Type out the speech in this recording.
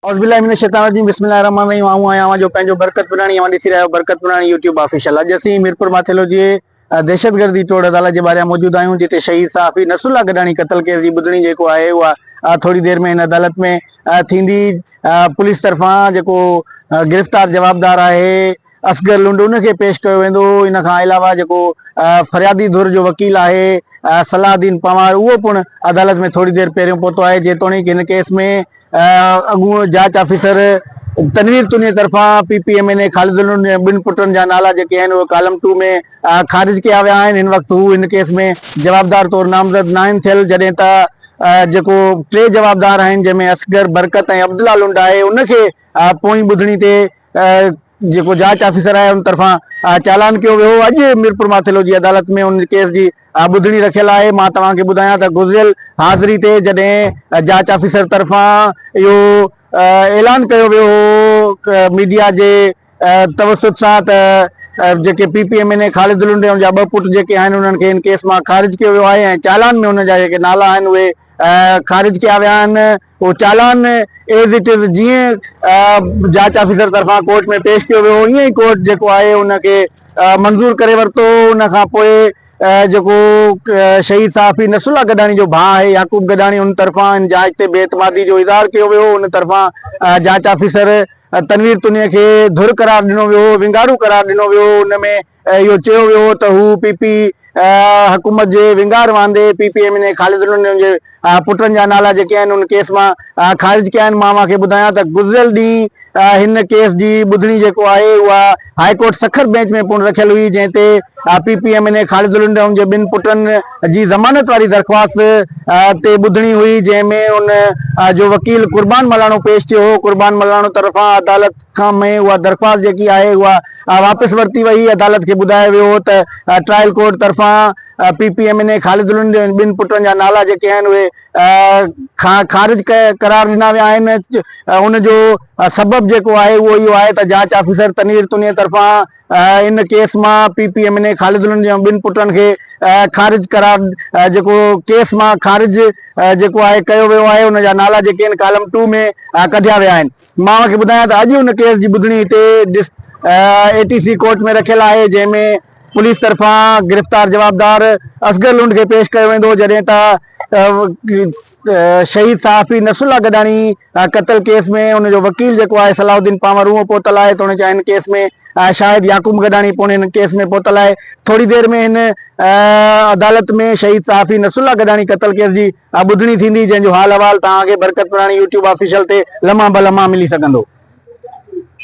اعوذباللّٰه من الشّيطان الرّجيم بسم اللّٰه الرّحمٰن الرّحيم آئون آهيان اوهان جو پنهنجو برڪت پراڻي اوهان ڏسي رهيا آهيو برڪت پراڻي يوٽيوب آفيشل اڄ اسين ميرپور ماٿيلو جي دهشتگردي ٽوڙ عدالت جي ٻاهريان موجود آهيون جتي شهيد صحافي نصرالله گڏاڻي قتل ڪيس جي ٻڌڻي جيڪو آهي اها ٿوري دير ۾ هن عدالت ۾ ٿيندي پوليس طرفان جيڪو گرفتار جوابدار آهي اصغر لنڊون کي پيش ڪيو ويندو هو، ان کان علاوه جيڪو فريادي ڌر جو وڪيل آهي صلاح الدين پنوار اهو پڻ عدالت ۾ ٿوري دير پهريون پهتو آهي، جيتوڻيڪ هن ڪيس ۾ اڳوڻو جاچ آفيسر تنوير توني طرفان P P M N A Khalid لنڊون جي ٻن پٽن جا نالا جيڪي آهن اهي ڪالم ٽو ۾ خارج ڪيا ويا آهن، هن وقت هو هن ڪيس ۾ جوابدار طور نامزد ناهن ٿيل، جڏهن ته جيڪو ٽي جوابدار آهن جنهن ۾ اصغر، برڪت ۽ عبدالله لنڊ آهي ان کي پوئين ٻڌڻي تي جيڪو جاچ آفيسر آهي ان طرفان چالان ڪيو ويو اڄ ميرپور ماٿيلو جي عدالت ۾ ان ڪيس جي ٻڌڻي رکيل آهي مان توهان کي ٻڌايان ته گذريل حاضري تي جڏهن جاچ آفيسر طرفان اهو اعلان ڪيو ويو هو ميڊيا جي توسط سان ته جيڪي P P M N A Khalid الهنڊي ان جا ٻه پٽ جيڪي آهن انهن کي ان ڪيس مان خارج ڪيو ويو آهي ۽ چالان ۾ ان جا جيڪي نالا آهن اهي خارج ڪيا ويا آهن اهو چالان ايز اٽ از جيئن جاچ آفيسر طرفان ڪورٽ ۾ پيش ڪيو ويو هو ائين ئي ڪورٽ جيڪو آهي ان کي منظور ڪري ورتو هو ان کان پوء جيڪو شهيد صحافي نصر الله گڏاڻي جو ڀاء آهي يعقوب گڏاڻي ان طرفان ان جاچ تي بي اعتمادي جو اظهار ڪيو ويو هو ان طرفان جاچ آفيسر تنوير تنيا کي ڌر قرار ڏنو ويو هو ونگارو قرار ڏنو ويو هو ان ۾ اهو چيو ويو هو ته هو پي پي حڪومت جي ونگار واندي P P M N A Khalid ڏنو انهن جي پٽن جا نالا جيڪي آهن ان ڪيس مان خارج ڪيا آهن مان اوهان کي ٻڌايان ته گذريل ڏينهن هن ڪيس جي ٻڌڻي جيڪو آهي اها هاء ڪورٽ سکر بينچ ۾ پڻ رکيل هئي جنهن تي P P M N A Khalid ڏنو ان جي ٻن پٽن جي ضمانت واري درخواست تي ٻڌڻي هئي جنهن ۾ ان جو وڪيل قربان ملاڻو پيش ٿيو هو قربان ملاڻو طرفان عدالت کان مئي اها درخواست جيڪي آهي اها واپس ورتي وئي، عدالت کي ٻڌايو ويو هو ته ٽرائل ڪورٽ طرفان P P M N A Khalid Lund جي ٻن پٽن جا نالا جيڪي آهن اهي خارج قرار ڏنا ويا آهن ان جو سبب جيڪو آهي اهو اهو آهي ته جاچ آفيسر تنوير تنير طرفان ان ڪيس مان P P M N A Khalid الهند جي ٻن پٽن کي خارج قرار جيڪو ڪيس مان خارج جيڪو آهي ڪيو ويو آهي ان جا نالا جيڪي آهن ڪالم ٽو ۾ ڪڍيا ويا آهن مان اوهان کي ٻڌايان ته اڄ ان ڪيس جي ٻڌڻي هتي اي ٽي سي ڪورٽ ۾ رکيل آهي جنهن ۾ پوليس طرفان گرفتار جوابدار اصغر لنڊ کي پيش ڪيو ويندو جڏهن ته شهيد صحافي نصر الله گڏاڻي قتل ڪيس ۾ ان جو وڪيل جيڪو آهي صلاح الدين پانور اهو پهتل آهي توڻيڪ هن ڪيس ۾ شاهد يعقوب گڏاڻي پڻ هن ڪيس ۾ پهتل آهي ٿوري دير ۾ هن عدالت ۾ شهيد صحافي نصر الله گڏاڻي قتل ڪيس جي ٻڌڻي ٿيندي جنهن جو حال احوال توهان کي برڪت پراڻي يوٽيوب آفيشل تي لمحا بلمحا ملي سگهندو